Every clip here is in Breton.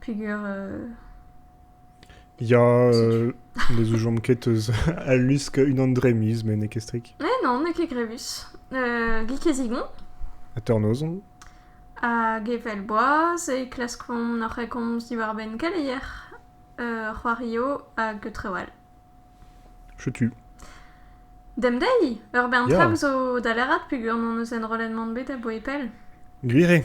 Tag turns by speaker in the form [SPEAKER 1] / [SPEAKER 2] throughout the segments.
[SPEAKER 1] peger...
[SPEAKER 2] Ya, euh, ne zoujomp ket eus al lusk unan dre miz, met n'eo ket strik. Eh non, n'eo ket grevus.
[SPEAKER 1] Uh, gik ez igon. Ha
[SPEAKER 2] tornoz on. Hag
[SPEAKER 1] evel boaz, e klaskomp noc'h e komz diwar-benn keleier, uh, c'hoario hag trewal.
[SPEAKER 2] Chetu.
[SPEAKER 1] Demdei, ur bern yeah. traoù zo dalerat peger hon eus enrollet mont bet a boe pell. Gwir eo.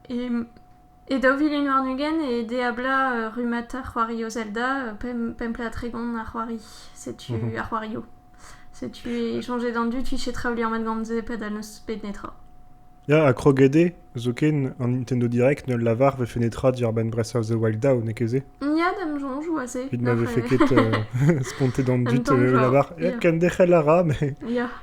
[SPEAKER 1] E daou vil un warn-ugent e ede ablañ rummata c'hoari o Zelda, pemp plat tregont a c'hoari. Setu ar c'hoarioù. Setu e soñje d'an dud fiche traoù liammet gant se padal n'eus bet netra. Ya, ha
[SPEAKER 2] kroget eo, zoken an Nintendo Direct ne lavar vefe netra diàr-benn bresañ The Wild Down, n'eo ket se? Ya, da'm soñj
[SPEAKER 1] oa se. Evit ma vefe ket
[SPEAKER 2] spontet an dud, e lavar
[SPEAKER 1] kenderc'hel
[SPEAKER 2] a ra,
[SPEAKER 1] mais...
[SPEAKER 2] Ya.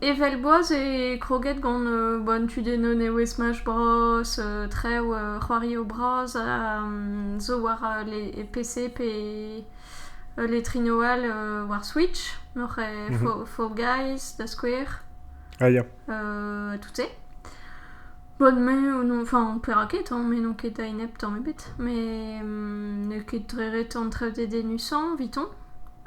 [SPEAKER 1] Evel boaz eo kroget gant an tudennoù nevez Smash Bros, traoù c'hoarioù bras zo war le PC pe le trino all war Switch, Fall Guys da skouer, ha
[SPEAKER 2] tout se.
[SPEAKER 1] Bon, me, enfin, perak ket, hein, me n'on ket a-enep tamm ebet, met n'eo ket dre ret entrev dedennusañ evitoñ.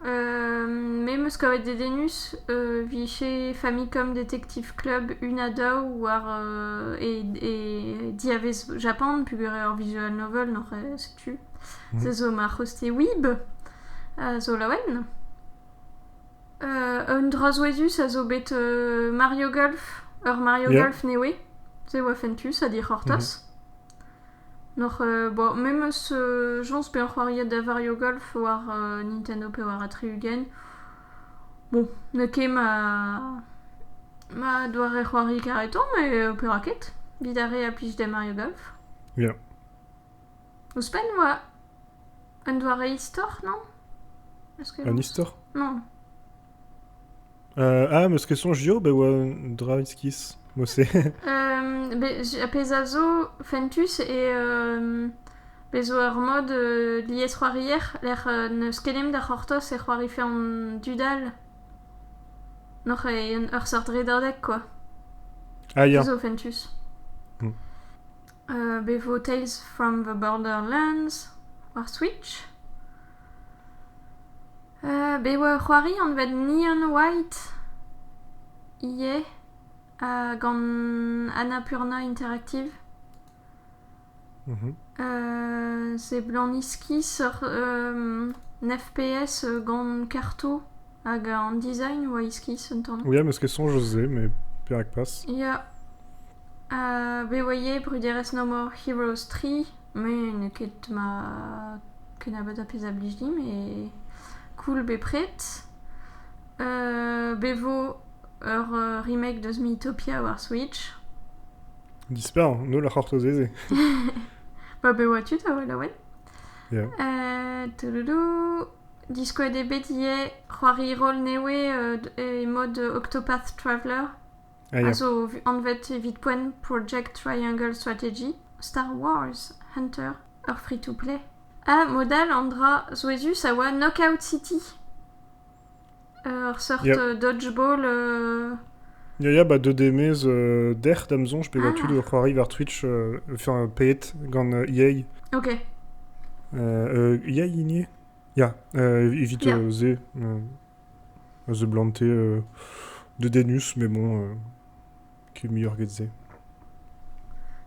[SPEAKER 1] me 'm eus kavet dedennus e vije Famicom Detective Club una daou war e e diavez Japan peogwir eo ur visual novel, n'oc'h setu. Se zo ma c'hoste Weeb, a zo laouen. Un dra souezhus a zo bet Mario Golf, ur Mario Golf nevez. Se oa fentus ha dic'hortoz. N'oc'h, bon, memes jañs pe an c'hoariad da Mario Golf war Nintendo pe war a tri-ugent. Bon, n'eo ket ma ma doare c'hoari kareton, met petra ket. 'Vit ar re a plij da Mario Golf. Ya. Ouzhpenn 'oa un doare istor, non Est-ce que... Un
[SPEAKER 2] istor Non.
[SPEAKER 1] Euh,
[SPEAKER 2] ah, ma question JO, bah, oa un dra iskis. Moi, c'est... euh,
[SPEAKER 1] a pezh a zo fentus e euh, Bez zo ur mod euh, lies c'hoarier lec'h euh, n'eus kenemp da c'hortoz e c'hoarife an dudal. Noc'h e ur seurt redadeg, quoi. Ah,
[SPEAKER 2] ya. Zo fentus. Hmm.
[SPEAKER 1] Bevo Tales from the Borderlands war Switch. bet oa ur c'hoari anvet Neon White ivez gant Annapurna Interactive. seblant iskis ur FPS gant karto. Hag an design oa iskis un tamm. Ia, meus ket soñj eus se,
[SPEAKER 2] met perak pas? Ya. Uh,
[SPEAKER 1] bet oaie bruderezh No More Heroes 3, me n'eo ket ma kennebeut a pezh a blij din, mais cool bepred. Uh, bet vo ur uh, remake deus Miitopia war Switch.
[SPEAKER 2] Disparr, nul a c'hortoz ez eo.
[SPEAKER 1] Ba bet oa tud a welaouen. Yeah.
[SPEAKER 2] Uh, toudoudu.
[SPEAKER 1] Diskouez eo bet ivez c'hoari roll nevez e mod Octopath Traveller, a zo
[SPEAKER 2] anvet evit
[SPEAKER 1] poent Project Triangle Strategy, Star Wars Hunter, ur free-to-play. Ha mod all an dra souezhus a oa Knockout City.
[SPEAKER 2] Ur seurt
[SPEAKER 1] dodgeball...
[SPEAKER 2] Ya ya, ba deuet eo maez dec'h da'm soñj pevañ tud o c'hoari war Twitch, enfin paeet gant EA. Ok. EA hini? Ya, evit se, se blante... dedenus, mais bon... kumuniet-se.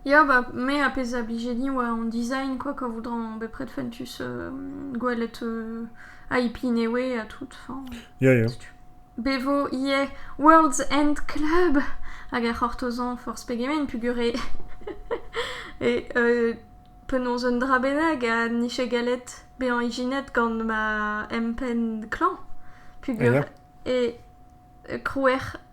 [SPEAKER 1] Ya, bah me ar pezh a blije din oa an design quoi quoi voudran bepred fentus euh, gwelet euh, IP Newe ha tout. Enfin, Ya, ya.
[SPEAKER 2] Bevo
[SPEAKER 1] ivez World's End Club hag ar c'hortozan forzh pegement pugure. e euh, penaos un dra bennak ha nije gallet bezañ ijinet gant ma empenn klañv pugure. Ya. E krouer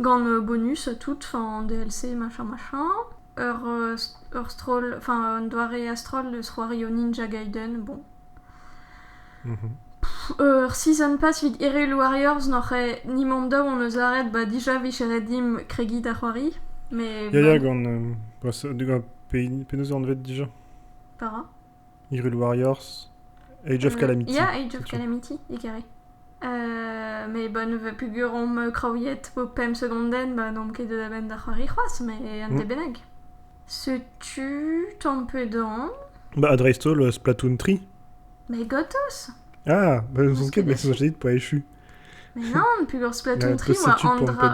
[SPEAKER 1] gant bonus tout, an DLC, machin, machin. Ur, ur stroll, enfin un doare a-stroll eus c'hoario Ninja Gaiden, bon. Ur season pass evit Hyrule Warriors n'oc'h nimant daou on eus aret ba dija vicheret dimp kregiñ da c'hoari. Mais, Ya, ya, gant, euh,
[SPEAKER 2] gant penaos anvet déjà? para.
[SPEAKER 1] Hyrule
[SPEAKER 2] Warriors, Age of Calamity. Yeah, Age of Calamity,
[SPEAKER 1] e carré. Euh, mais bon, pugurom kraouiet po pemp segonden, ba n'omp ket da benn da c'hoari c'hoaz, mais an mm. debeneg. Setu ton pedan. Bah, Adrastol,
[SPEAKER 2] euh, Splatoon 3. Mais gotos!
[SPEAKER 1] Ah, bah, ils
[SPEAKER 2] ont ket, mais ils ont dit pour échu. Nann,
[SPEAKER 1] peger spleton tri oa an dra...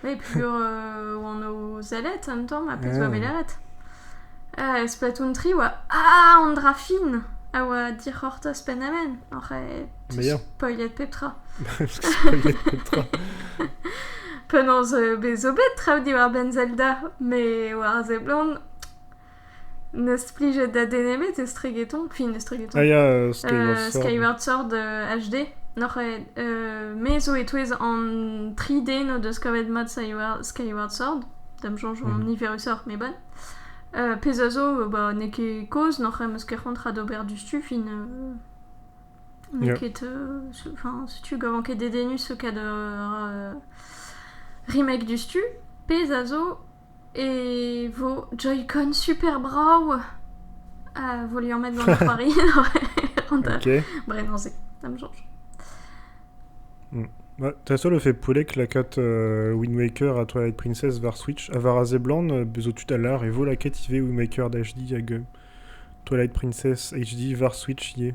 [SPEAKER 1] Oui, peger euh, oan o zellet an tamm, ha pezh oa bet leret. Euh, spleton tri oa... Ah, an dra fin a oa dic'hortoz pennamen. Oc'h e spoilet pep tra. spoilet pep tra. Penaos euh, bezo bet traoù diwar-benn Zelda, me war a seblant, N'eus plijet da den ebet estregeton, queen estregeton. Ah ya, Skyward Sword. Skyward Sword HD. Noc'h euh, me zo e-touez an tri den o deus kavet mat Skyward Sword. D'am soñj an mhm. niverusoc'h, mais bon. Euh, pezh a zo, bah, n'eo ket kozh, noc'h em eus ket c'hoant ra d'ober du fin. Euh, n'eo ket... Enfin, si tu gavan ket dedennus ce cas de remake du stu. Pezh a zo, E vo Joy-Con super brav a vo liammet gant C'hoari bremañ-se,
[SPEAKER 2] ça me change. Ta seul effet poulec la cat euh, Wind Waker à Twilight Princess var Switch a var azé blan euh, bezo tud a lar e vo la cat ivez Wind Waker d'HD hag euh, Twilight Princess HD var Switch ivez.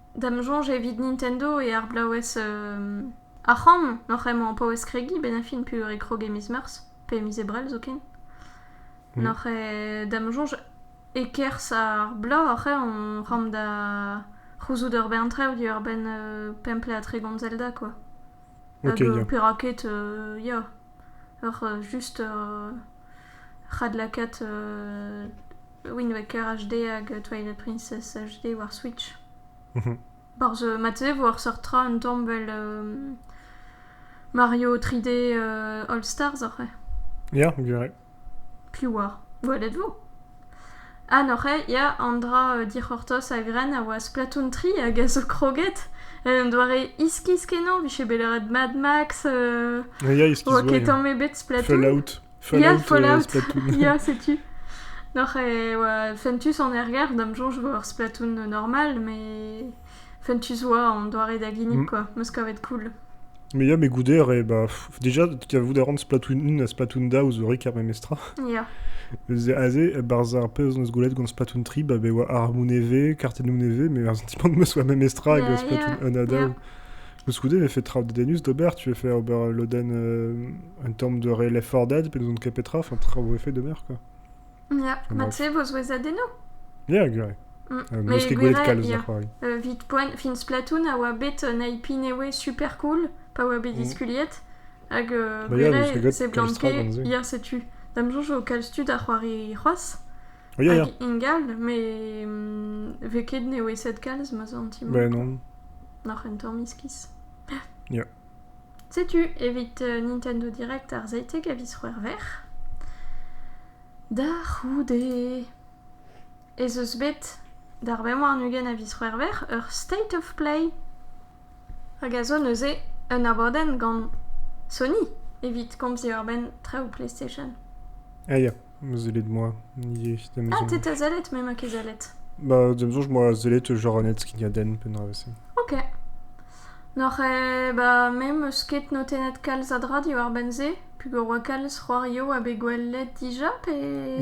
[SPEAKER 1] D'am soñj evit Nintendo eo ar blaouez ar c'hramm oc'h emañ o paouez kregiñ benn ar fin peogwir e krog e miz Meurzh pe e miz Ebrel zoken. N'oc'h eo da'm soñj e-kerzh ar bloaz oc'h eo hon c'hramm da c'houzout ur bern traoù diwar-benn pemp ple ha tregont Zelda kwa. Ok, Hag
[SPEAKER 2] ya. perak ket
[SPEAKER 1] ya ur just ur c'hadlakaat Wind Waker HD hag Twilight Princess HD war Switch. Barzh, marteze e vo ar seurt tra un tamm vel Mario 3D All Stars oc'h eo? Ya, gwir
[SPEAKER 2] eo. Piv oar?
[SPEAKER 1] Gwelet vo. Ha n'oc'h eo? Ya, an dra dic'hortoz a-grenn a oa Splatoon 3 hag a zo kroget. En un doare iskis-kenañ, vije bet lâret Mad Max, Ya, iskis oa ket tamm ebet Splatoon. Fallout. Ya, Fallout. Ya,
[SPEAKER 2] setu.
[SPEAKER 1] Noc'h e oa Fentus en ergar, da'm soñj vo ur Splatoon normal, mais Fentus oa en doare da ginnig, Mm. quoi. Meus kavet cool. Mais ya, mais goude,
[SPEAKER 2] re, bah, pff, déjà, kavout a ran Splatoon 1 ha Splatoon da ouzh rik ar memestra.
[SPEAKER 1] Ya. Ze aze,
[SPEAKER 2] barz ar pezh on eus gwelet gant Splatoon 3, bah, be oa armoù nevez, kartennoù nevez, mais ar sentiment de meus oa memestra avec le Ouais, Splatoon yeah. 1 ha Yeah. daou. Koulskoude, e vefe traoù dedennus d'ober. Tu vefe ober ul lodenn en termes de relay for dead, pe nous on petra,
[SPEAKER 1] enfin,
[SPEAKER 2] traoù effet
[SPEAKER 1] d'ober,
[SPEAKER 2] quoi. Yeah, ma
[SPEAKER 1] tu sais,
[SPEAKER 2] vos oezadennoù Yeah, gure. Mm. Euh, Mais euh, vite point, fin
[SPEAKER 1] Splatoon a oa bet un IP newe super cool, pa oa bet mm. diskuliet, hag euh, bah, yeah, c'est blanqué, hier setu. Dam jour au calstu da c'hoari c'hoaz, Ya, ya. Ingal, mais hum, vez ket neveset kalz, ma sentimp. Ben non.
[SPEAKER 2] Noc'h un tamm
[SPEAKER 1] iskis. Ya.
[SPEAKER 2] Setu
[SPEAKER 1] evit euh, Nintendo Direct ar zeitek a vis c'hwer ver. Da c'houde ez eus bet d'ar bemoar nugent a vis c'hwer ver ur state of play hag a zo neuze un abadenn gant Sony evit komziñ war-benn traoù PlayStation. Ah ya,
[SPEAKER 2] zellet moi, ivez, da ma Ah, t'es
[SPEAKER 1] ta zellet, me ma ket zellet. Bah, da ma soñj, moi,
[SPEAKER 2] zellet genre un skignadenn penn-dravezh. Ok.
[SPEAKER 1] N'oc'h eh, bah, me 'meus ket notennet kalz a dra diwar-benn se, peogwir 'oa kalz c'hoarioù ha bet gwelet dija pe...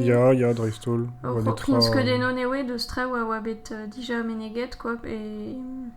[SPEAKER 1] Ya, ya,
[SPEAKER 2] dreist-holl. Oh, Oa netra... Hopkins ket
[SPEAKER 1] eno newe deus traoù a oa bet dija meneget, quoi, pe...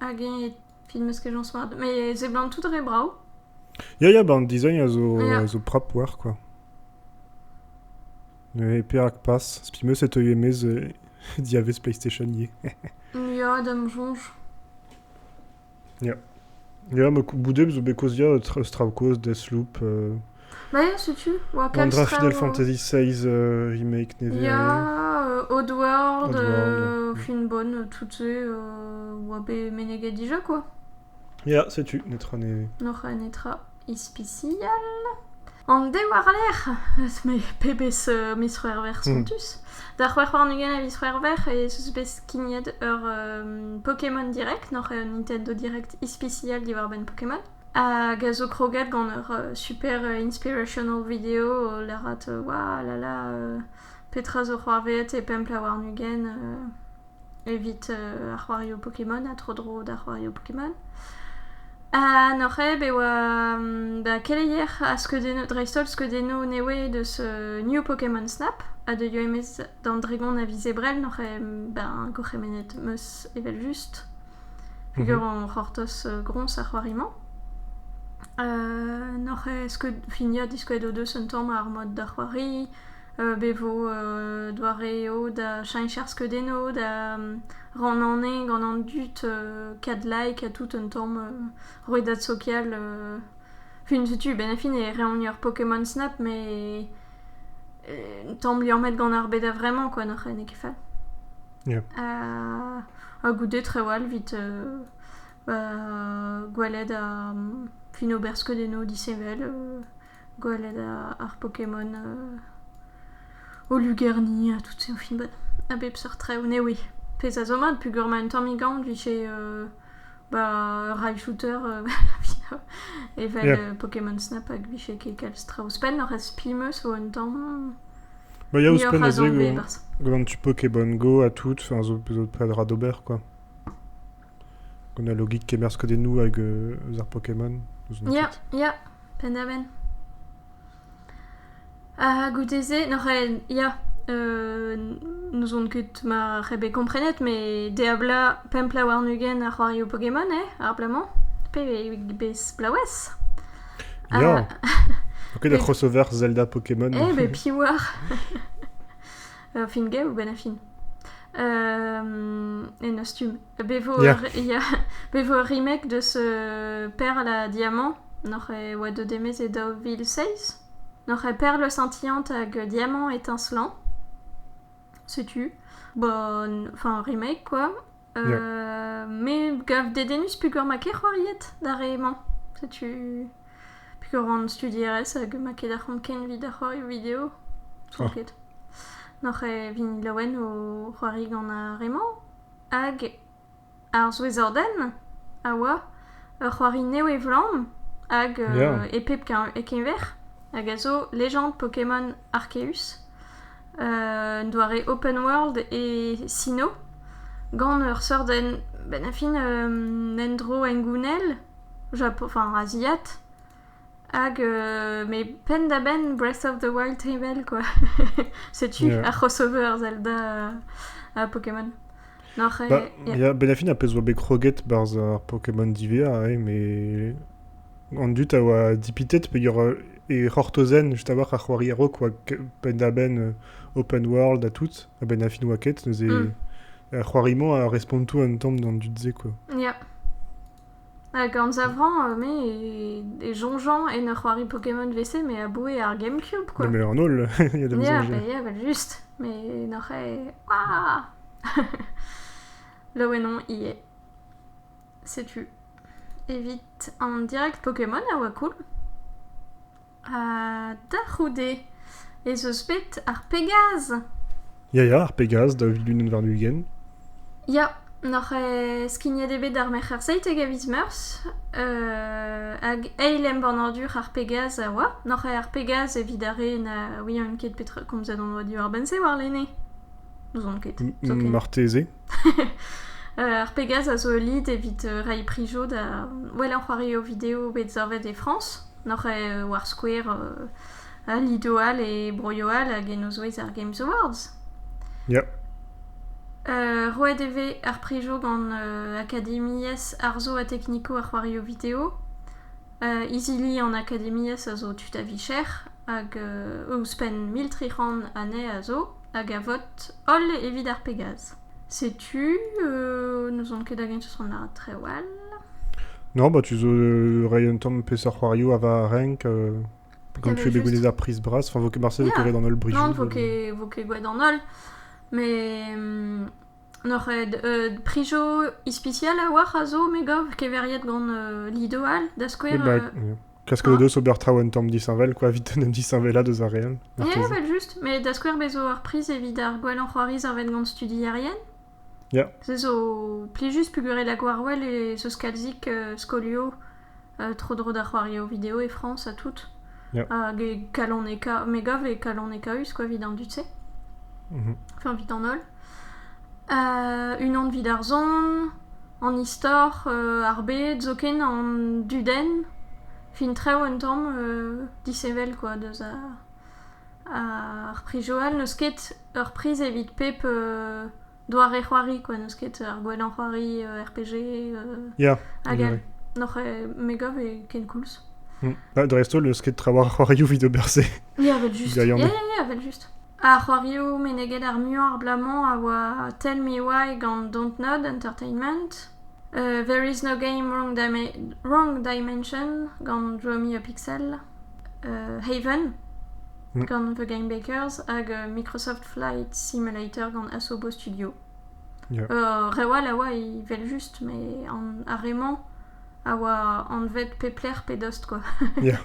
[SPEAKER 1] Hag e film eus kejañs mat. Mais ze blant tout re brao. Ya, ya, ben,
[SPEAKER 2] design a zo, ah, a zo prap war, quoi. Et perak pas Spi meus e teuio emez euh, diavez PlayStation ie. Ya, dam
[SPEAKER 1] soñj.
[SPEAKER 2] Ya. Ya, ma boudet zo bet kozia trav kozh Deathloop euh, Maia,
[SPEAKER 1] setu oa An kalz Draft Final traoù. Fantasy
[SPEAKER 2] VI euh, remake nevez. Ya, euh,
[SPEAKER 1] Oddworld, Oddworld. euh, Mm. fin
[SPEAKER 2] bonne, euh, toutes
[SPEAKER 1] ces, euh, oa bet meneget déjà quoi. Ya, setu,
[SPEAKER 2] netra ne... Noc'h un netra
[SPEAKER 1] ispicial. An de warlerc'h eus me pebezh euh, miz-c'hwerver Hmm. spontus. Da c'hwec'h warn-ugent a viz-c'hwerver e eus bet skignet ur euh, Pokémon Direct, noc'h un Nintendo Direct ispicial diwar-benn Pokémon. Hag a zo kroget gant ur super inspirational video o lârat "Waouh là là petra zo c'hoarvezet e pemp pla warn-ugent evit ar c'hoarioù Pokémon ha tro-dro d'ar c'hoarioù Pokémon". Ha noc'haet e oa da keleier ha skeudennoù dreist-holl skeudennoù nevez deus New Pokémon Snap ha deuio e-maez d'an Dregon a viz Ebrel noc'h eo ben gourc'hemennet 'm eus evel-just. Peger hor c'hortoz groñs er c'hoari-mañ? N'hoc'h esked finiañ diskouez o deus un tamm ar mod da c'hoari, bevo doare eo da cheñch ar skeudennoù, da rannañ gant an dud kat like ha tout un tamm roet da sokial. Fin setu, benn ar fin e reomp ur Pokémon Snap met un tamm liammet gant ar bed a-vremañ kwa, n'hoc'h n'eo ket fall. Ha goude trawal evit gweled fin ober skeudennoù disheñvel, gweled ar Pokémon o lugerni ha tout-se, o finvad. A bep seurt traoù, ne ouie. Pezh a zo mat peogwir ma un tammig aon 'vije Ba ray shooter evel Pokémon Snap hag 'vije ket kalz traoù ouzhpenn. Oc'h aspi 'm eus vo un tamm Ba ya
[SPEAKER 2] ouzhpenn aze gant tu Pokémon Go ha tout, a zo peseurt dra d'ober quoi. Gant al logik kemerzh kudennoù hag eus ar Pokémon. Ya, ya,
[SPEAKER 1] penn-da-benn. Ha goude-se n'oc'h aet ya n'ouzon ket mar eo bet komprenet met Diablo pemp pla warn-ugent a c'hoarioù Pokémon eo ar bloaz-mañ pe bez plaouez.
[SPEAKER 2] Ya! Ket ur crossover Zelda Pokémon. Eh ben piv oar!
[SPEAKER 1] Ur film gav ou benn a fin? En ostum. Be vo ur remek deus Perl ha Diamant n'hoc'h eus oa deuet e-maez e daou vil seizh N'hoc'h eus Perl Le Sentiment hag Diamant e Tinslán setu enfin remek quoi me gav dedennus peogwir ma ket c'hoariet d'ar re-mañ setu peogwir on studierez hag ma ket ar c'hont ken evit ar c'hoarioù video n'oc'h ket n'hoc'h vin laouen o c'hoari gant ar re-mañ hag ar souezhordenn a oa ur c'hoari-nev e vlamm hag e pep keñver hag a zo Legend Pokémon Arceus, un doare open world e Sinnoh gant ur seurt benn-fin un endro hengounel asiat. Hag met penn-da-benn Breath of the Wild tevel quoi. Setu Yeah. ar crossover ar Zelda ha Pokémon. Nor eo... Bah,
[SPEAKER 2] ya. ya, ben a fin ar pezh oa bet kroget barzh ar Pokémon divea, eh, mais an dud a oa dipitet peogwir e c'hortozen just a-walc'h ar c'hoari a-raok oa k- penn-da-benn euh, open world ha tout, ha ben a fin oa ket neuze Mm. ar c'hoari-mañ a responto un tamm d'an dud-se quoi. Ya.
[SPEAKER 1] Hag anzavrañ me e soñjañ en ur c'hoari Pokémon WC me aboue ar GameCube quoi. Mais en holl, il y a
[SPEAKER 2] de mieux en mieux. Ya, ya, evel-just.
[SPEAKER 1] Mais n'oc'h ket... Waouh! Laouen on ivez. Setu. Evit an direct Pokémon a oa cool. Ha da c'houde ez eus bet ar Pegaz? Ya ya, ar
[SPEAKER 2] Pegaz, daou vil unan warn-ugent. Ya,
[SPEAKER 1] n'oc'h eh skignet eo bet ar Merc'her Seitek a viz Meurzh, euh, hag eil embannadur ar Pegaz a oa. N'oc'h eh ar Pegaz evit ar re na ouient ket petra komzet on diwar-benn-se warlene? N'ouzon ket. M- zoken. marteze. Ar Pegase a zo ul lid evit reiñ prijo da wellañ c'hoarioù video bet savet e Frañs. N'oc'h eo war skouer lidoù all e broioù all hag en o zouez ar Games Awards. Ya. Roet e vez ar prijo gant Akademiezh Arzo ha Teknikoù ar C'hoarioù Video. Izili an Akademiezh a zo tud a-vicher hag ouzhpenn mil tri c'hant anezhe a zo. hag a vot holl evit ar Pegase. Setu, euh, n'ouzon ket hag-eñ eus an trawal. Non,
[SPEAKER 2] bah tu zo euh, ray un tamm peseurt c'hoarioù a va renk, euh, comme tu fais juste... des prise bras, enfin, vo ket marse yeah. vo ket an holl brijou. Non, vo ket, vo ket
[SPEAKER 1] gwad an holl, mais hum, N'oc'h ket prijoù ispisial a-walc'h a zo me gav keveriet gant Lido all da skouer. Bah, klask eo deus
[SPEAKER 2] ober traoù un tamm disheñvel quoi, evit en em disheñvelaat eus ar re all. Ya, evel just,
[SPEAKER 1] met da skouer bez zo ar priz evit ar gwellañ c'hoari savet gant studierien. Ya. Se
[SPEAKER 2] zo
[SPEAKER 1] plijus pegwir eo da Gwarwell e 'z eus kalzik skolioù tro-dro da c'hoario video e Frañs ha tout. Hag e
[SPEAKER 2] kaloneka...
[SPEAKER 1] Me gav e kaloneka-us, quoi, vit an dud-se. Mhm. Enfin, vit an holl. unan vit ar zon, an istor, ar bed, zoken an dudenn. Fin trev un tamm dishevel, quoi, deus ar pri Joal. N'eus ket ur priz evit pep Doare-c'hoari quoi, n'eus ket ar gwellañ c'hoari RPG hag
[SPEAKER 2] all.
[SPEAKER 1] N'oc'h me gav eo kenkoulz. Dreist-holl
[SPEAKER 2] n'eus ket tra war ar c'hoarioù evit ober-se. Ya, evel-just. Ya,
[SPEAKER 1] ya, evel-just. Ar c'hoarioù meneget ar muiañ abalamour a oa Tell Me Why gant Don't Nod Entertainment. There Is No Game Wrong Dimension gant Draw Me A Pixel. Haven, gant The Game Bakers, hag Microsoft Flight Simulator gant Asobo Studio. Yeah. Uh, reoù all a oa evel-just, mais an, ar re-mañ a oa anvet peplec'h pe dost, quoi. Yeah.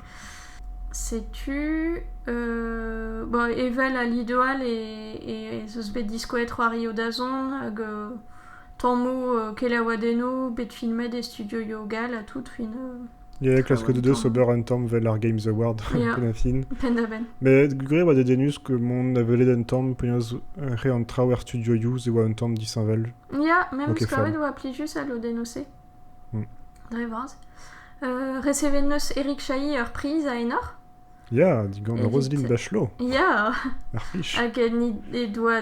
[SPEAKER 2] Setu...
[SPEAKER 1] Euh, bon, evel a lidoal e, ez eus bet diskouezet c'hoari o dazont hag euh, tammoù euh, kelaouadennoù bet filmet e studioioù gall ha tout fin... Euh, Ya, klasket
[SPEAKER 2] o deus ober un tamm 'vel ar Games Award, Ya. pennatin. Penn-da-benn. Met
[SPEAKER 1] gwir e oa dedennus
[SPEAKER 2] que mont da welet un tamm penaos euh, re an traoù er studioioù e oa un tamm disheñvel. Ya, même Ok,
[SPEAKER 1] skavet fun. oa pli juste
[SPEAKER 2] à
[SPEAKER 1] l'Odenose. Mm. Dre vras. Euh, recevet neus Eric Chahi ur priz à Enor. Ya, digant
[SPEAKER 2] Evit- Roselyne Bachelot, Ya,
[SPEAKER 1] ar fich. hag
[SPEAKER 2] en he- he
[SPEAKER 1] doa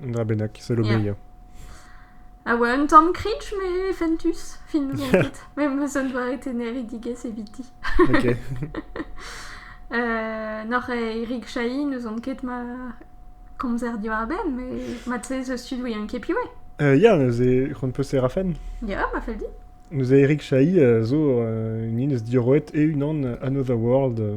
[SPEAKER 1] Na bennak,
[SPEAKER 2] sell oberia. A
[SPEAKER 1] oa un tamm cringe, mais fentus, fin zo dit. Même ça ne doit teneridigezh eviti. Ok.
[SPEAKER 2] euh,
[SPEAKER 1] Nor Erik Chahi nous on ket ma komzer diwar-benn, mais matze ze stud ouien ket piwe. Euh, ya, neuze,
[SPEAKER 2] c'hoant peus rafen Ya, ma fel dit.
[SPEAKER 1] Neuze Erik Chahi
[SPEAKER 2] euh, zo euh, un eus diorroet e unan Another World euh,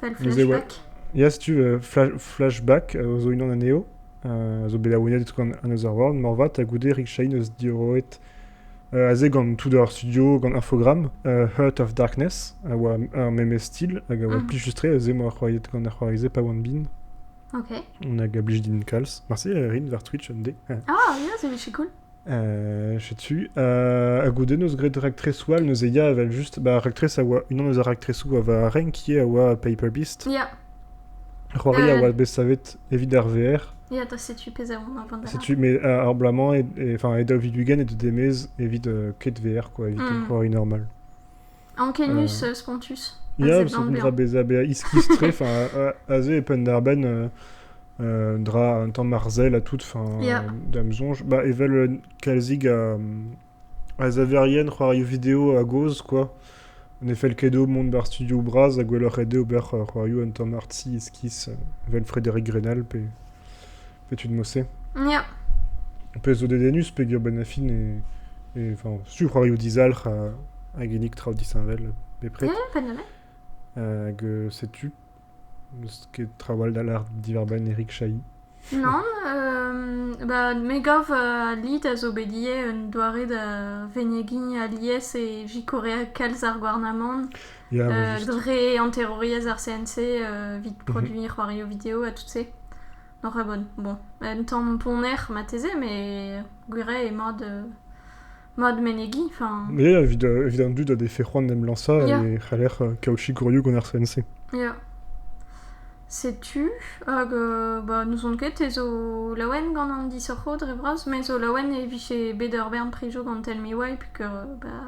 [SPEAKER 2] Fel flashback.
[SPEAKER 1] Ya, setu euh,
[SPEAKER 2] flash, flashback euh, zo unan anezho, euh, a zo bet laouennet gant Another World, moarvat, ha goude Rick Shane eus diorroet euh, aze gant tout ar studio, gant Infogram, euh, Heart of Darkness, a oa ar memes style, hag a oa Mhm. plus justre, aze moa c'hoariet gant ar c'hoarizé pa oan bin,
[SPEAKER 1] Ok. hag a blij
[SPEAKER 2] din kalz. Merci euh, Rin, war Twitch, un D. Ah, yeah, c'est c'est
[SPEAKER 1] cool. Euh, je suis dessus.
[SPEAKER 2] Euh, a goude neus graet raktres all neus eya evel just. Ba, raktres a oa unan eus ar raktresoù a va renk qui a oa Paper Beast. Ya. C'hoari a Euh, oa bet savet evit ar VR. ya, da setu pezh a on
[SPEAKER 1] avant da Setu, mais euh, ar blamañ,
[SPEAKER 2] et, et- enfin, e daou vidugen e deu demez evit euh, ket VR, quoi, evit Mm. un c'hoari normal.
[SPEAKER 1] Ankenius spontus. Ya, parce qu'on dra
[SPEAKER 2] bezañ bezañ iskis-tre, aze e penn-darbenn euh, dra un tamm arzel à tout, fin yeah. dam sonj. Bah, evel euh, kalzig a, a zaverien c'hoario video a gozh, quoi. En effet, le kedo monde bar studio braz a gwelloc'h ede ober c'hoario un tamm artsi iskis, evel Frédéric Grenal, pe... Setu din Mosse. Ya.
[SPEAKER 1] Ar pezh
[SPEAKER 2] zo dedennus peger benn a fin e... e enfin, sur c'hoarioù dizalc'h ha, a ginnig traoù disheñvel bepred. Mmh, pas mal.
[SPEAKER 1] Hag
[SPEAKER 2] euh, setu ket traoù all da lar diwar-benn Eric Chahi. Non,
[SPEAKER 1] euh, bah, Megav a lid a zo bet ivez un doare da venegiñ alies e jikorea kalz ar gouarnamant yeah, euh,
[SPEAKER 2] dre anterouriezh
[SPEAKER 1] ar CNC euh, vit produiñ mm -hmm. c'hoarioù video ha tout se. Donc ouais, bon, bon. Un tamm ponner marteze, mais gwir eo mod, euh, mod menegiñ. Enfin, Ie, evit, euh, evit
[SPEAKER 2] an dud a defe c'hoant d'em lañsañ Yeah. e c'haller euh, kaochikourioù gant ar CNC. yeah.
[SPEAKER 1] Setu, hag euh, bah, n'ouzon ket ez zo laouen gant an disoc'ho dre vras, mais zo laouen e vije bet ur bern prijo gant Tell Me Why, puisque bah,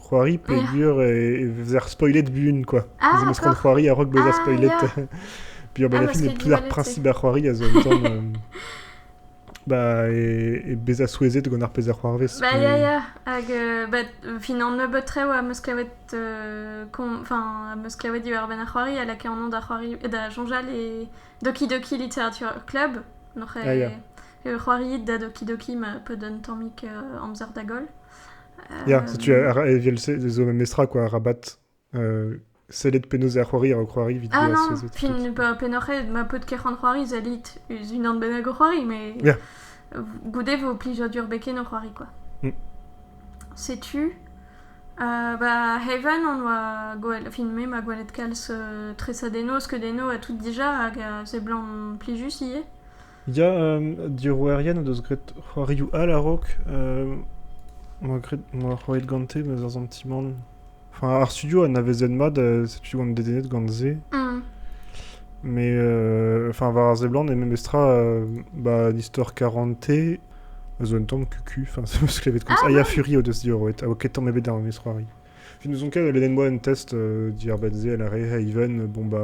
[SPEAKER 2] C'hoari peogwir e vezer spoilet buan, quoi. Ah, ez eus pront c'hoari
[SPEAKER 1] a-raok bezañ
[SPEAKER 2] ah, spoilet.
[SPEAKER 1] Puis ah, bah, film,
[SPEAKER 2] plusieurs principes à c'hoari a zo un temps... Euh, bah, e, e bezañ souezhet gant ar pezh a c'hoarvez. Bah, ya, ya. Hag,
[SPEAKER 1] euh, bah, fin an nebeut rev a meus kavet, euh, enfin, a meus kavet diwar-benn ar c'hoari, a lakae an an da c'hoari, da Jonjal et Doki Doki Literature Club. Donc, ah, ya.
[SPEAKER 2] c'hoariit da
[SPEAKER 1] Doki Doki ma peu d'un tammik euh, amzer da goll. Ya, setu
[SPEAKER 2] evel-se zo memestra quoi, Rabat. Euh, sellet penaos er c'hoari ar c'hoari evit Ah non, puis
[SPEAKER 1] pennoc'h
[SPEAKER 2] eo
[SPEAKER 1] ma paotr ker an c'hoari zalit eus unan bennak o c'hoari, mais yeah.
[SPEAKER 2] goude
[SPEAKER 1] vo plijadur beken o c'hoari quoi. Mm. Setu, uh, bah, Heaven on oa gwelet, fin me ma gwelet kalz uh, tresadenno, skeudenno a tout dija, hag uh, seblant plijus ivez. Ya,
[SPEAKER 2] diorroerien o deus graet c'hoarioù all a-raok. Em boa graet- em boa roet gante ma ar santimant... Enfin, ar studio a navezen mat, setu on dedennet gant se. Mais enfin war ar seblant eo memestra ba an istor karante a zo un tamm kuku, enfin se 'm eus klevet koulz. Ah! Ah ya, Fury o deus diorroet, a oa ket tamm ebet d'ar memes c'hoari. N'ouzon ket, a lennen moa un test diàr benn se, a lâre Hey Ivan, bon ba...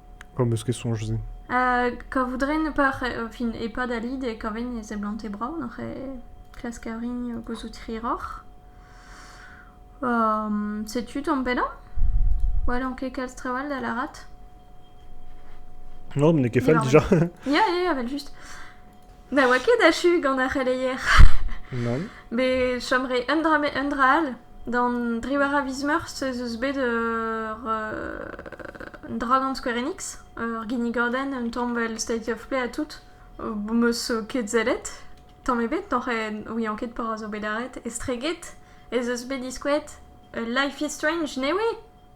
[SPEAKER 1] P'am eus
[SPEAKER 2] ket soñj-se. Hag kavout
[SPEAKER 1] rin par fin e-pad al lid e kaven e seblante brav oc'h klask a-rin gouzout hiroc'h. setu tamm pellañ. N'hallan ket kalz trawall da lârat. No,
[SPEAKER 2] n'eo ket fall dija. Ya, ya, evel-just.
[SPEAKER 1] Ne oa ket achu gant ar c'heleier. Nann.
[SPEAKER 2] Bet chom
[SPEAKER 1] 'ree un dra met un dra all. D'an dri war a viz meurzh ez eus bet ur un dra gant Square Enix. Ur ginnigordenn, un tamm 'vel State of Play ha tout. 'meus ket sellet tamm ebet. n'ouian ket petra zo bet lâret. Estreget ez eus bet diskouet Life
[SPEAKER 2] is
[SPEAKER 1] Strange, ne oui?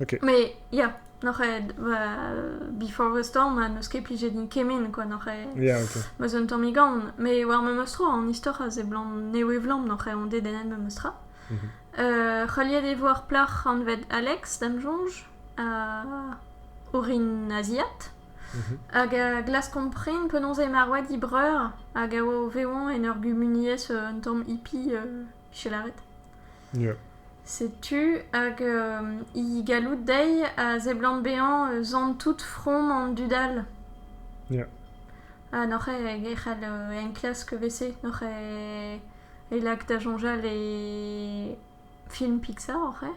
[SPEAKER 2] Ok. Mais ya,
[SPEAKER 1] n'oc'h ket... euh, before a storm, ha n'eus ket plijet din kement, quoi, n'oc'h ket... Ya, ok. Ma z'eun
[SPEAKER 2] tammig aon.
[SPEAKER 1] Mais war memes tro, an istor a zeblant newe-vlam n'oc'h ket ondet en memes tra. Mhm. Euh, c'heuliet e vo ar plac'h anvet Alex, da'm soñj, euh, orin aziat. Mhm. Hag a glaskomp prin penaos eo marvet he breur, hag a oa o vevañ en ur gumuniezh euh, un tamm hippie euh, tu lâret. Yeah.
[SPEAKER 2] Setu,
[SPEAKER 1] hag euh, he galloud dezhi a seblant bezañ eus an tout from an dud-all. Yeah.
[SPEAKER 2] Ha
[SPEAKER 1] n'oc'h e c'hall euh, enklask vese, n'oc'h e, e lak da soñjal e film Pixar oc'h eo?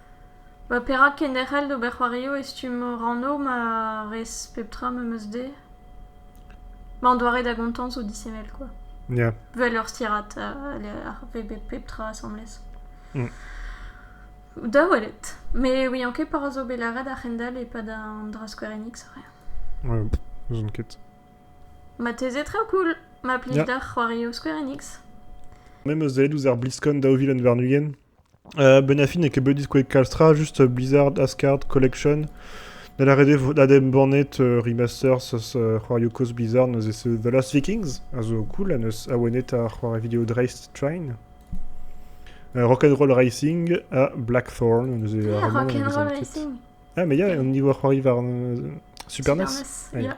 [SPEAKER 1] Ma perak ket derc'hel d'ober c'hoarioù e stumm rannoù ma rez pep tra m'em eus dezhe ? Ma an doare da gontañ zo disheñvel kwa. Ya. Vel ur
[SPEAKER 2] stirad
[SPEAKER 1] a veve pep tra asambles. Da welet. Me 'ouian ket pa ra zo bet lâret a-hend-all e-pad an dra skouerennig zo re. N'ouzon ket.
[SPEAKER 2] Marteze
[SPEAKER 1] traoù cool ma plij deoc'h c'hoarioù skouerennig. Me 'm eus
[SPEAKER 2] aet ouzh ar bliskon daou vil un warn-ugent. benn ar fin n'eo ket bet diskouez kalz tra, just Blizzard Asgard Collection. Da lâret eo vat adembannet remasters eus c'hoarioù kozh Blizzard neuze c'est The Last Vikings, a zo cool, ha neus awenet ar c'hoari video Dreist Train. Rock'n'roll Racing ha Blackthorn, neuze yeah, Rock'n'roll Racing.
[SPEAKER 1] Ah, mais yeah, au
[SPEAKER 2] niveau c'hoari war Super NES. Yeah.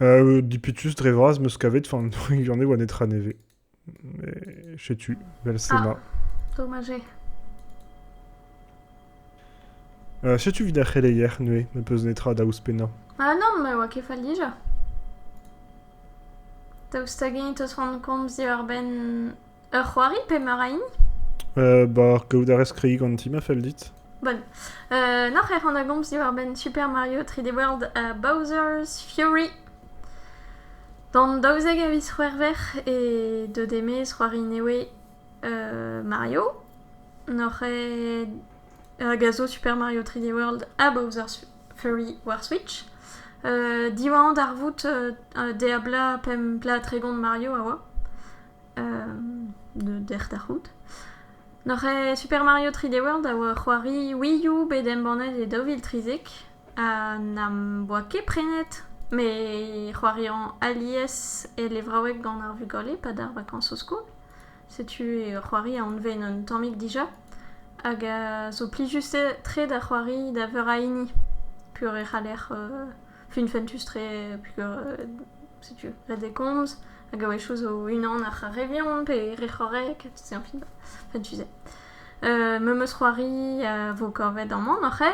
[SPEAKER 2] Dipitus dre vras 'm eus kavet, enfin ne oa netra nevez. Mais setu, vel se ma. Dommager. Euh, setu vid ar c'heleier, neuze, n'em peus netra da ouzhpennañ. Ah non, ma oa
[SPEAKER 1] ket fall dija. Daoust hag-eñ 'teus rannet komz diwar-benn Ur c'hoari pe meur a hini Ba,
[SPEAKER 2] kaout a rez kreiz ganti ma fell dit. Bon. Euh,
[SPEAKER 1] Noc'h ec'h an a gomz diwar-benn Super Mario 3D World ha Bowser's Fury. D'an daouzek a viz c'hwec'hver e deuet e-maez c'hoari newe euh, Mario. Noc'h eo hag a zo Super Mario 3D World ha Bowser's Fury war Switch. Euh, diwañ darvoud euh, deabla pemp plat tregont Mario a oa. dec'h da c'hoût. Noc'h Super Mario 3D World a oa c'hoari Wii U bet embannet e daou vil trizek ha n'am boa ket prenet me c'hoariañ alies e levraoueg gant ar vugale pa dar vakañs o skol. Setu c'hoari a anven un tammig dija hag a zo plijus-tre da c'hoari da veur a hini pur e c'haller fin fentus-tre, puisque setu la décomze, hag a-wechoù zo unan ar c'harrevion pe re c'horrek, c'est un film fentusé. Euh, me meus c'hoari a vo kavet amañ noc'he.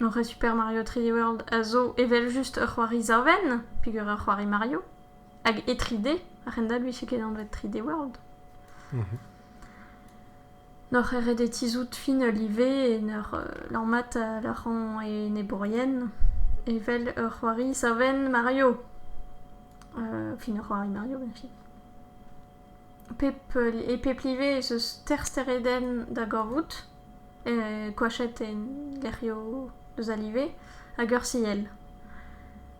[SPEAKER 1] Noc'he Super Mario 3D World a zo evel-just ur c'hoari savenn, peogwir ur c'hoari Mario, hag e 3D, a-hend-all 'vije ket anvet 3D World. N'oc'h ket ret eo tizhout final ivez en ur lammat al arc'hant e enebourien evel ur c'hoari savenn Mario. fin ur c'hoari Mario beñchi. Pep e pep live ez eus teir steredenn da gavout, koachet en gerioù deus al live hag ur siell.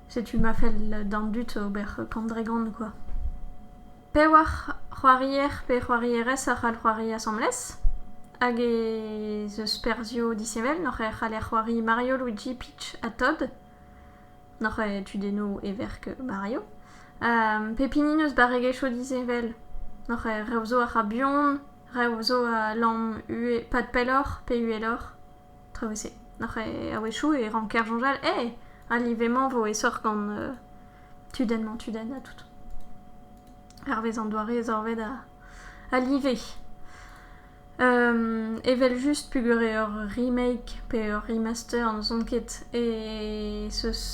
[SPEAKER 1] Setu ma fell d'an dud ober kant dre gant, quoi. Pewac'h c'hoarier pe c'hoarierez a c'hall c'hoari asambles hag ez eus perzhioù disheñvel n'hoc'h c'haller c'hoari Mario, Luigi, Peach ha Todd n'hoc'h eo tudennoù heverk Mario. pep hini n'eus barregezhioù disheñvel n'hoc'h rev zo a ra buan, rev zo a lamm pad pelloc'h pe uheloc'h. Tra wezh-se. A-wechoù e ranker soñjal eh! Ha live-mañ 'vo aesoc'h gant tudenn-mañ-tudenn ha tout. Hervez an doare zorvet a live. Evel-just peogwir eo ur remake pe ur remaster n'ouzon ket ez eus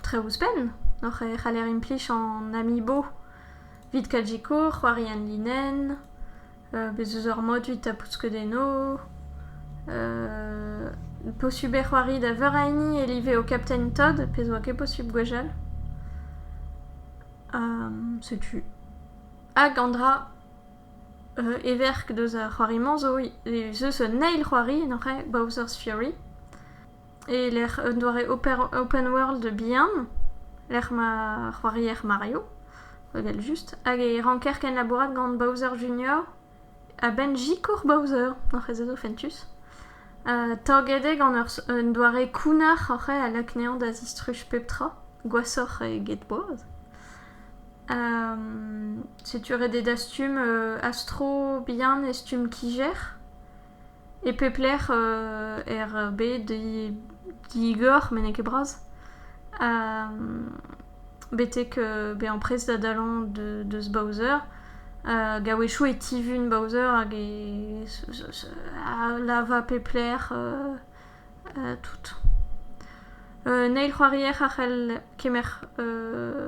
[SPEAKER 1] tre ouzhpenn e c'haller implij an amiibo evit Kajiko, c'hoari en linenn. Bez' eus ar modu 'ta pouskeudenno posubl eo c'hoari da veur a hini e live ho Captain Todd, pezh 'oa ket posubl gwechall. setu. Hag an dra everk deus ar c'hoari-mañ zo ez eus un eil c'hoari en hoc'h ae, Bowser's Fury. e-lec'h un doare open world bihan, lec'h ma c'hoarier Mario, evel-just, hag e ranker kenlabourat gant Bowser Jr. a-benn sikour Bowser, oc'h ez eus o fentus. taget eo gant un doare kounnar oc'h a lakneañ da zistruj pep tra, gwashoc'h eget boaz. setu ret eo dastum astro bihan e stumm kijer. E pep lec'h er bed digor met n'eo ket bras betek bezañ prest da dalañ deus Bowser. A-wechoù e tivun Bowser hag e lava pep lec'h tout. Un eil c'hoarier a c'hell kemer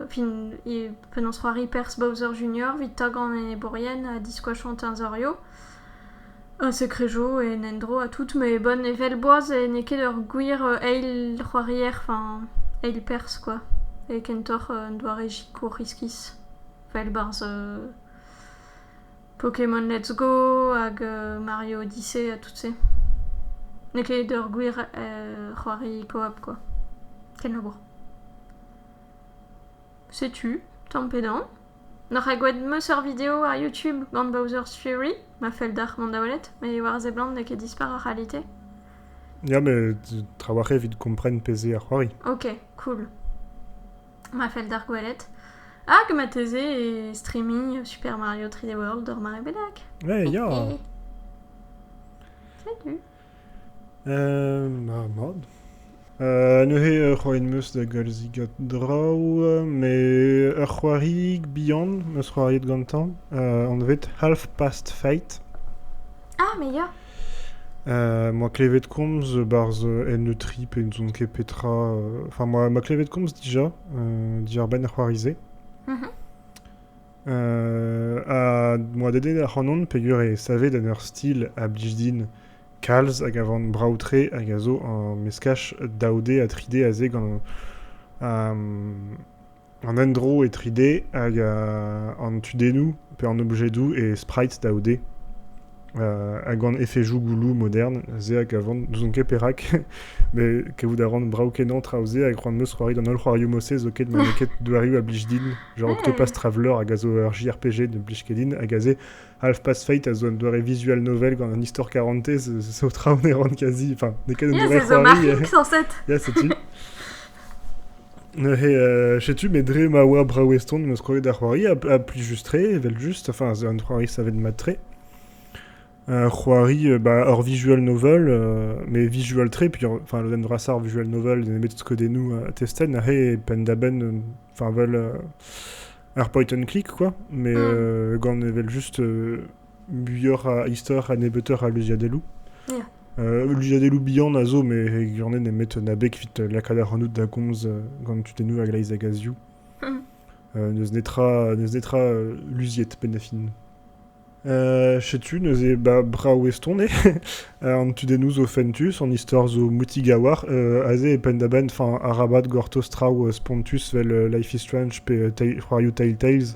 [SPEAKER 1] fin penaos c'hoari perzh Bowser Junior evit tagañ an enebourien ha diskoachañ teñzorioù. Un sekred zo en endro ha tout ma eo bon evel boaz n'eo ket ur gwir eil c'hoarier enfin eil perzh kwa eo kentoc'h un doare sikour iskis vel barzh Pokémon Let's Go hag Mario Odyssey ha tout se. N'eo ket ur gwir c'hoari koap kwa kenlabour. Setu, tamm pe damm. N'oc'h ket gwelet 'm eus ur video ar YouTube gant Bowser's Fury ma fell deoc'h mont da welet met war a seblant n'eo ket dispar ar c'halite. Ya,
[SPEAKER 2] met trawalc'h evit kompren pezh eo ar c'hoari. Ok, cool.
[SPEAKER 1] Ma fell deoc'h gwelet. Hag marteze e streaming Super Mario 3D World or ma rebedak. Ouais, ya!
[SPEAKER 2] Salut! Marmot. neuze ur c'hoari am eus da galzigat draoù met ur c'hoariig bihan 'm eus c'hoariet gantañ anvet Half-Past Fate. Ah, mais
[SPEAKER 1] ya!
[SPEAKER 2] moa klevet komz 'barzh N3 pe ne soñn ket petra. Enfin moa klevet komz dija, diàr-benn ar c'hoari-se. Ha m'oa dedennet ac'hanon peger eo savet en ur stil a blij din kalz hag a van brav-tre hag a zo ur meskaj daou D ha tri D aze gant an endro e tri D hag an tudennoù pe an objedoù e sprite daou D. ha gant efejoù gouloù modern, se a gavan, n'ouzon ket perak, met kavout a ran brav-kenañ traoù-se hag c'hoant 'meus c'hoari d'an holl c'hoarioù mod-se zo ket ma n'eo ket doarioù a blij din, genre Octopath Traveler hag a zo ur JRPG ne blij ket din, hag aze Half-Past Fate a zo un doare visual novel gant un istor karantez, zo traoù ne ran kazi, enfin n'eo ket un doare c'hoari. Ça marche,
[SPEAKER 1] 107 Ya, setu.
[SPEAKER 2] Neuze, setu, met dre ma oa brav-eston em eus kroget ar c'hoari ha plijus-tre, evel-just, enfin, c'est un c'hoari savet mat-tre. Un c'hoari bah, hor visual novel, mais visual-tre, puis enfin, lodenn vrasañ ar visual novel nemet skeudennoù testet, neuze, penn-da-benn, enfin, vel ar point-and-click, quoi, mais gant evel-just muioc'h a istor ha nebeutoc'h a luziadelloù. Luziadelloù bihan a zo, met e gwirionez nemet na beg evit lakaat ac'hanout da gomz gant tudennoù a-gleiz hag a-zioù. n'eus netra, n'eus netra luziet penn da fin. setu neuze ba brav eston eo an tudennoù zo fentus, an istor zo moutigawar, aze e penn da benn arabat gortoz traoù spontus vel Life is Strange pe c'hoarioù Telltales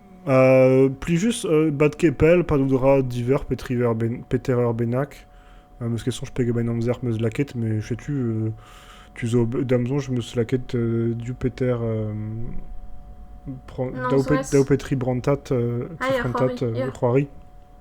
[SPEAKER 2] plijus, bad ket pell, pa n'out ra diveur peter eur bennak. Meus ket soñj pegen benn amzer meus lakaet, met setu tu zo da'm soñj meus lakaet div peter daou petri brantat, prentad c'hoari.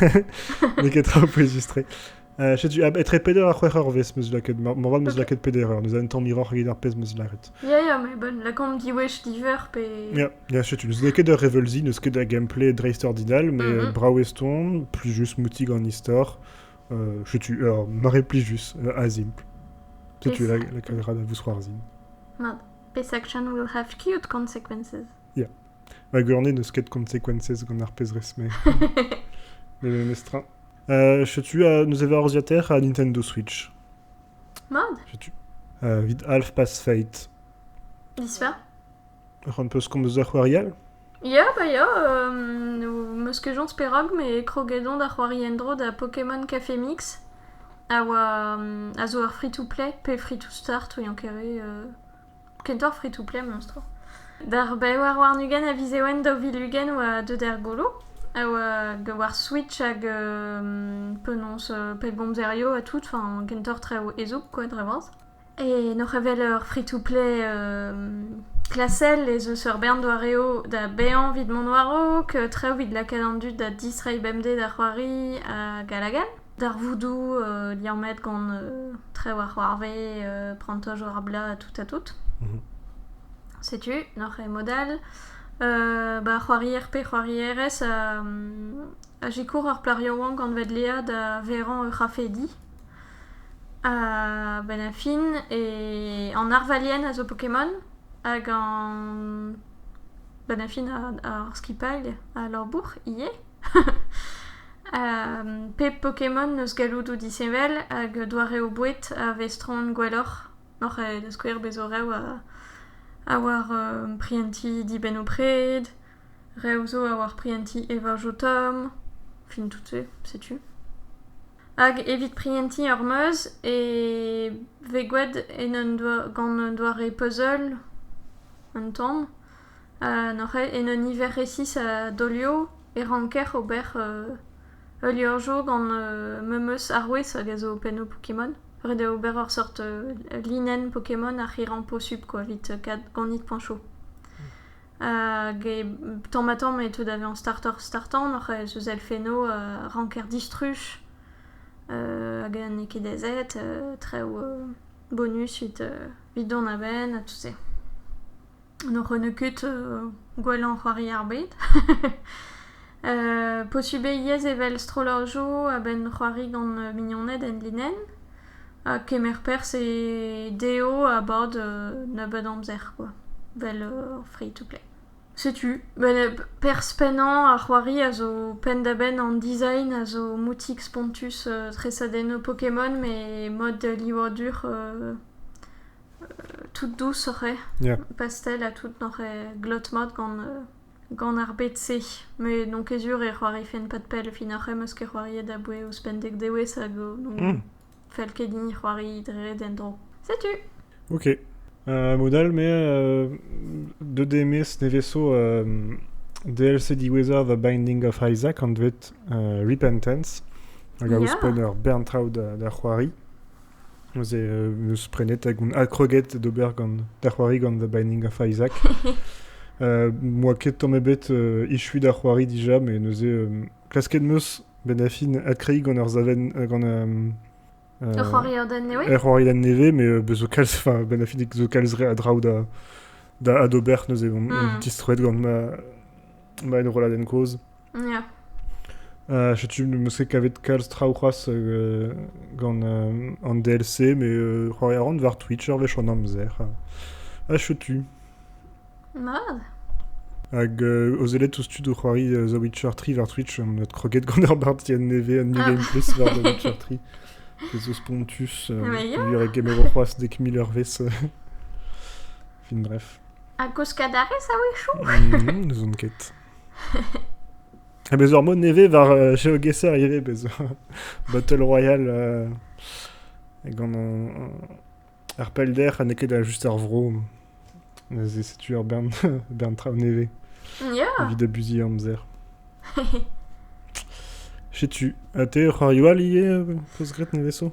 [SPEAKER 2] N'eo ket tra ho poe justre. Uh, setu, etre peder ha c'hwec'h eur vez meus laket, moarvat meus laket peder eur, nous un tamm hiroc'h eget ar pezh meus laret. Ya, yeah, ya, yeah, mais bon, lakomp
[SPEAKER 1] diwech diver pe... Ya, yeah, yeah, setu, n'eus
[SPEAKER 2] ket ur revelzi, n'eus ket da gameplay dreist ordinal, mais mm -hmm. brao eston, plus just moutig an istor, uh, setu, uh, mare plus just, uh, azimpl. Setu la, la cagra da vous zroarzin. Mat,
[SPEAKER 1] pesaction will have cute consequences. Ya.
[SPEAKER 2] Ma gurnez n'eus ket consequences gant ar pezh-rez-mañ. Mais memestra. Euh, setu, euh, nous avez orziater à Nintendo Switch. Mad
[SPEAKER 1] Setu. Euh,
[SPEAKER 2] vid Half Past Fate.
[SPEAKER 1] Disfer
[SPEAKER 2] Un peu ce qu'on nous a c'hoariel Ya, bah ya,
[SPEAKER 1] euh, meus kejonz perag, me krogedon da c'hoari endro da Pokémon Café Mix, a oa, euh, a zo ur free-to-play, pe free-to-start, ouian kere, euh, kentoc'h fritoù-play mestr. D'ar be war warn-ugent a viz Ewen daou vil ugent oa deuet er golo a oa war Switch hag penaos pellgomzerioù ha tout, enfin kentoc'h traoù ezhomm quoi dre vras. E n'oc'h evel ur fritoù-play klasel ez eus ur bern doareoù da baeañ evit mont war-raok, traoù evit lakaat an dud da distreiñ bemdez da c'hoari hag all hag all. Darvoudoù liammet gant trev ar c'hoarvez, prantoj war blaz, tout ha tout. Mhm. Setu, noc'h e modal. ba c'hoarier pe c'hoarierez a, a sikour ar plac'h yaouank gant vedleañ da verañ ur c'hafedi. Ha benn a fin e an arvalien a zo Pokémon hag an benn a fin ar skipailh a labour ivez. Pep Pokémon eus galloudoù disheñvel hag doareoù boued a vez troet gwelloc'h. Oc'h da skouer bez 'zo rev a oar prientiñ dibennoù-pred, rev 'zo a oar prientiñ evajotom, fin tout-se setu. Hag evit prientiñ ur meuz e vez gwraet en un doa gant un doare puzzle un tamm. En un niver resis a daolioù e ranker ober ul liorzhour gant memes arouez hag a zo pennoù Pokémon. Ret eo ober ur seurt linenn Pokémon ar c'hirrañ posupl kwa, evit kaout ganit poñchoù. Hag tamm-ha-tamm e teu da vezañ startoc'h-startañ n'oc'h aes eus elfennoù a ranker distruj hag n'eo ket aezet, traoù bonus evit dont a-benn ha tout se. Ne c'honne ket gwellañ c'hoari ar bed. posubl eo ivez evel strollajoù a-benn c'hoari gant mignoned enlinenn. Ha kemer perzh e dezho a-bad nebeut amzer kwa, 'vel free-to-play. Setu, perzh pennañ ar c'hoari a zo penn-da-benn an design a zo moutik spontus tresadennoù Pokémon met mod livadur tout dous oc'h eo. Ya. Pastel
[SPEAKER 2] ha tout
[SPEAKER 1] n'oc'h eo glot mat gant gant ar bed-se. Met n'on ket sur e c'hoarifent pad pell. Fin ar c'hoe 'm eus ket c'hoariet aboue ouzhpenn dek dewezh hag zo donc Hmm. fell ket din c'hoari dre d'en-dro. Setu! Ok.
[SPEAKER 2] Euh, mod all, me, euh, deut eo mes nevez-so euh, DLC diwezhañ The Binding of Isaac, anvet euh, Repentance, hag a Ya. ouzhpenn ur bern traoù da, da c'hoari. Neuze em eus prenet hag on adkroget d'ober gant da c'hoari gant The Binding of Isaac. uh, moa ket tamm ebet uh, echuiñ da c'hoari dija, met neuze um, klasket meus benafin adkreiñ gant ur savenn uh, gant um, uh,
[SPEAKER 1] Ur c'hoariodenn nevez ur c'hoariodenn nevez,
[SPEAKER 2] mais
[SPEAKER 1] uh,
[SPEAKER 2] bezo kalz, enfin, benafinik zo kalz re a draoù da, da adober, neuze on, on Mm. distroet gant ma, ma enrolladenn kozh.
[SPEAKER 1] Ya. Euh,
[SPEAKER 2] setu meus ket kavet kalz traoù c'hoazh euh, gant euh, an DLC, mais euh, c'hoari a ran war Twitch ur wech an amzer. Ha, ha chetu.
[SPEAKER 1] Mad.
[SPEAKER 2] Hag euh, ozelet ouzh tud o c'hoari euh, The Witcher 3 war Twitch, on a croquet gant ur bartier nevez un new ah. gameplay war The Witcher 3. Des os pontus, euh, yeah. lui et Game of Thrones dès que Miller Finref. Un koskadarez
[SPEAKER 1] a-wechoù N'ez on ket.
[SPEAKER 2] Ha bez ur mod nevez war euh, Geogesser ivez, bez Battle Royale euh, gant euh, ar pellder ha n'eo ket juste ar vro. Neuze setu ur bern, bern traoù nevez yeah. evit
[SPEAKER 1] abusiñ
[SPEAKER 2] amzer. Setu, ha te ur c'hoarioù all ivez, peus graet neveso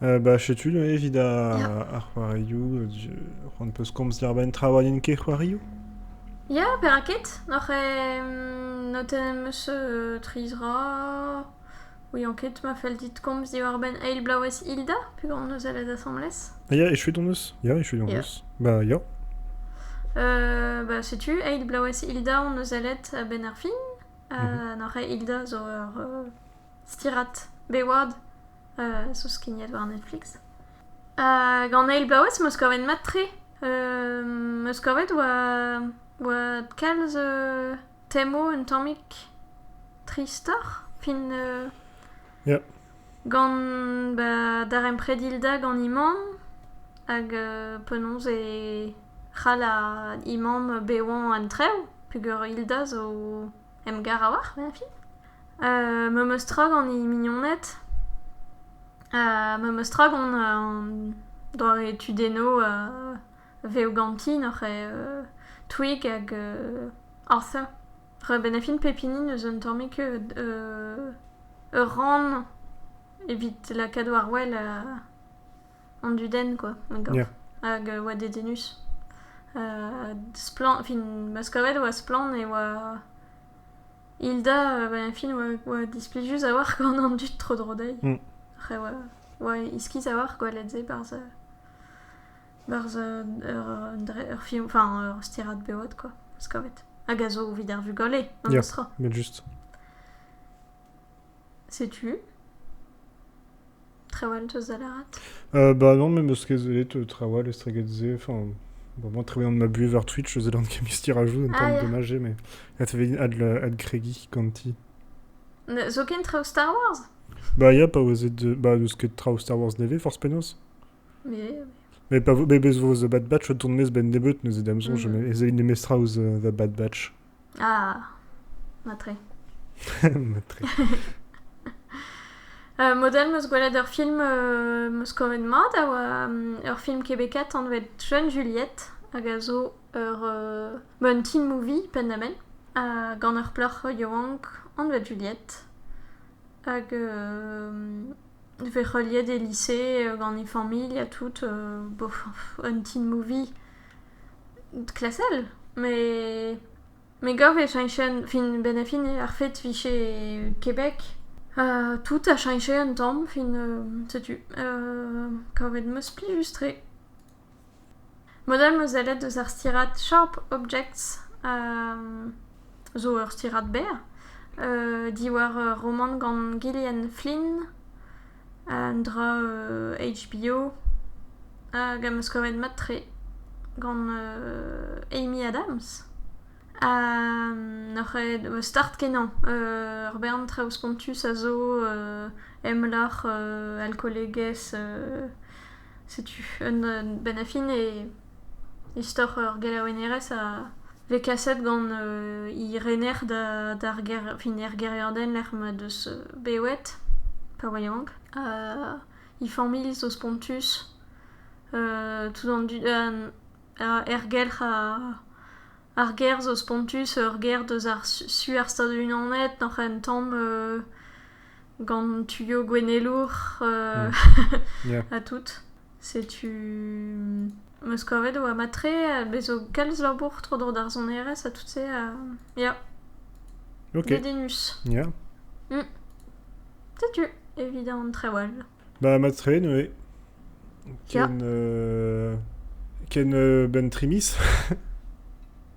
[SPEAKER 2] Ba setu neuze evit ar c'hoarioù. C'hoant 'peus komz diàr-benn tra 'oa n'int ket c'hoarioù? Ya,
[SPEAKER 1] perak ket? Oc'h notenn 'm eus tri zra. Ouion ket ma fell dit komz diwar-benn Eil Blaouezh Hilda pegoulz 'neus sellet asambles. Ya, echuet hon eus.
[SPEAKER 2] Ya, echuet hon eus. Ba ya.
[SPEAKER 1] Ba setu Eil Blaouezh Hilda hon eus sellet a-benn ar fin. Ha n'oc'h ket Hilda zo ur... Stirat Beward, zo skignet war Netflix. gant eil bloavezh em eus kavet mat-tre. em eus kavet oa oa kalz temo un tammig tristoc'h fin
[SPEAKER 2] gant
[SPEAKER 1] ba darempred Hilda gant he mamm hag penaos e c'hall he mamm bevañ an traoù peogwir Hilda zo... emgar a-walc'h, vezafi. memes tra gant he mignoned, memes tra gant an doare tudennoù vev ganti nac'h eo Twig hag Arthur. Ra bennafin pep hini n'eus un tammig ur rann evit lakaat war wel an dudenn quoi ma gaout. Hag
[SPEAKER 2] e oa
[SPEAKER 1] dedennus. Ha splann... Fin, ma 'z kaved e oa splann e oa... Hilda, ben e fin, oa, oa displijus a-walc'h gant an dud tro-dro dezhi. Mm. Ac'h oa, oa iskis a-walc'h gwelet-se barzh... Barzh ur, ur film... Enfin, ur stirad beot quoi, ma 'z kaved. Hag a zo evit ar vugale, memes tra. met juste. Setu. Traoù all 'teus da lâret ? Bah non, me
[SPEAKER 2] 'meus ket sellet traoù all estreget-se. Enfin, bon, travaillant de ma buhez war Twitch, je faisais l'alchimie tirajou, un Ah, terme ja. dommage, mais
[SPEAKER 1] это
[SPEAKER 2] ведь ad le- adkregi kanti. Ne-
[SPEAKER 1] Zoken traoù Star Wars? Bah ya, pa
[SPEAKER 2] oa de... Bah n'eus ket traoù Star Wars nevez, force penaos. Mais oui,
[SPEAKER 1] Mais pa vo...
[SPEAKER 2] Mais bez vo The Bad Batch o tont 'maez 'benn nebeut neuze, da 'm soñj, Mhm. ez ait nemestra ouzh euh, The Bad Batch. Ah,
[SPEAKER 1] matre.
[SPEAKER 2] matre.
[SPEAKER 1] Uh, model, meus gwelet ur film uh, meus kavet mat a oa um, ur film kebekaet anvet Jeune Juliette hag a zo ur uh, ba un teen movie penn-da-benn uh, gant ur plac'h yaouank anvet Juliette hag uh, e vez heuliet e lise uh, gant e familh ha tout uh, bof, un teen movie klasel, met me gav e cheñchen fin benn ha fin ar fed vije Kebek ha tout a cheñche un tamm fin setu kavet 'm eus plijus-tre. Mod-all 'm eus sellet eus ar stirad Sharp Objects a zo ur stirad berr diwar ur romant gant Gillian Flynn. an dra HBO hag am eus kavet mat-tre gant Amy Adams. Ha n'oc'h aet start-kenañ ur bern traoù spontus a zo emlac'h alkolegezh Setu un benn a fin e istor ur gelaouennerez a vez kaset gant he rener d'ar gêr fin er gêriadenn lec'h m'he deus bewet pa oa yaouank. he familh zo spontus, tout an dud, er gelc'h a Ar ger zo spontus, ur ger deus ar su ar Stadoù-Unanet oc'h en tamm gant tuioù gouennelour ha tout. Setu m'eus kavet e oa mat-tre, bez' zo kalz labour tro-dro d'ar sonerezh ha tout-se ha ya.
[SPEAKER 2] Dedennus.
[SPEAKER 1] Ya. Setu evit an trewall. Ba mat-tre
[SPEAKER 2] neuze. Ken, euh, ken euh, ben trimis.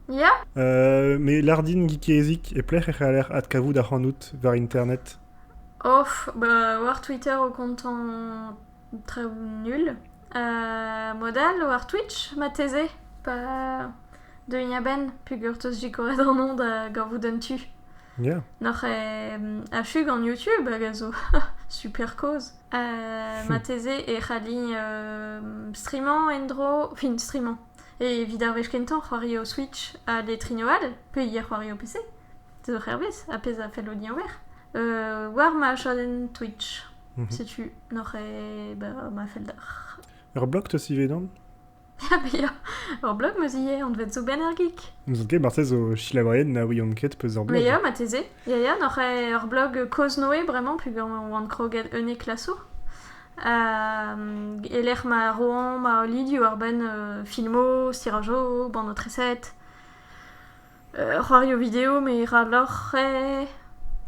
[SPEAKER 1] Ya? Euh,
[SPEAKER 2] me lardin geezik e plec'h e c'haller adkavout ac'hanout war internet. Off,
[SPEAKER 1] bah, war Twitter au comptant très nul. Euh, modal war Twitch, mateze. Pa... Deuiñ a-benn, pugurteus gikoret an onn da gavout un tu. Yeah. Noc'h
[SPEAKER 2] e
[SPEAKER 1] achu gant YouTube hag a zo super koz. Uh, marteze e c'halli uh, streamañ en-dro, fin streamañ, e evit ar wech kentañ c'hoari o Switch ha les trignaux all, peulier c'hoari o PC, zo hervez, a pezh a fell din ober, uh, war ma chadenn Twitch. Mm -hmm. Setu, noc'h e, ba, ma fell d'ar... Ur blog te sive
[SPEAKER 2] dan? Ya
[SPEAKER 1] bezañ. Ur blog 'meus ivez anvet zo benn ar geek. N'ouzon ket marteze zo
[SPEAKER 2] selaouerien na ouiont ket peus ur blog. Mais ya, marteze. Ya
[SPEAKER 1] ya, n'oc'h ur blog Koz-Noe bremañ peogwir on oan kroget unnek klasoù. E lec'h ma roañ ma olilioù ar benn filmoù, stirajoù, bannotreset. c'hoario video me ra loc'h eh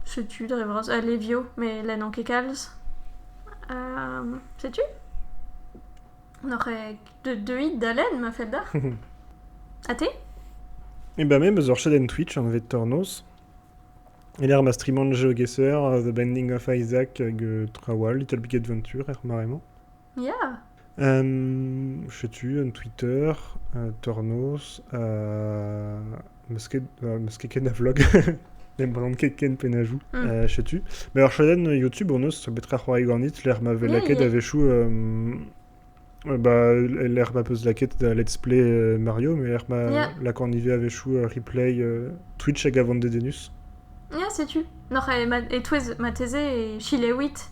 [SPEAKER 1] setu dre vras ha levio me lennan ket kalz setu n'oc'h ket deuit da lenn ma fell deoc'h ha te Eh ben
[SPEAKER 2] me 'm eus ur chadenn Twitch anvet Tornos e-lec'h ma streaman jeux gear The Bending of Isaac hag traoù all Little Big Adventure er mare-mañ. Ya. setu un Twitter, un tornos, euh, m'eus ket, euh, m'eus ket ken a vlog, ne m'en ket ken penajou, mm. euh, setu. Mais alors, chaden YouTube, on eus betra c'hoari ganit, l'er ma vez lakaet a-wechou, bah, l'er ma peus lakaet da let's play Mario, mais l'er ma lakan ivez a-wechou replay Twitch hag avant Dedenus. Ya, setu.
[SPEAKER 1] Non, et, ma, et ma thésé et Chilewit.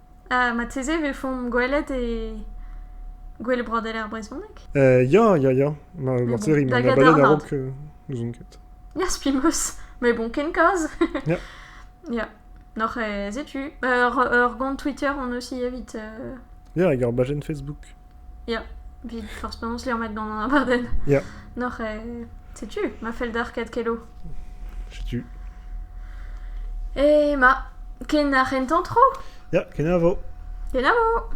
[SPEAKER 1] Ha marteze e vefomp gwelet e gouel broadel ar brezhoneg? Ya, ya, ya.
[SPEAKER 2] Marteze rimp abadet
[SPEAKER 1] a-raok. N'ouzon
[SPEAKER 2] ket. Ya, spilmoz.
[SPEAKER 1] Mais bon, ken kaoz. Ya.
[SPEAKER 2] Ya.
[SPEAKER 1] N'oc'h setu. Ur gont Twitter on aussi evit. Ya, hag ur
[SPEAKER 2] bajenn Facebook. Ya,
[SPEAKER 1] vit forzh penaos liammet gant an abardenn. Ya. Noc'h
[SPEAKER 2] eh...
[SPEAKER 1] Setu, ma fell d'ar Kadkelo. Setu. E ma,
[SPEAKER 2] ken
[SPEAKER 1] ar c'hentañ tro?
[SPEAKER 2] Ya,
[SPEAKER 1] kenavo. Kenavo!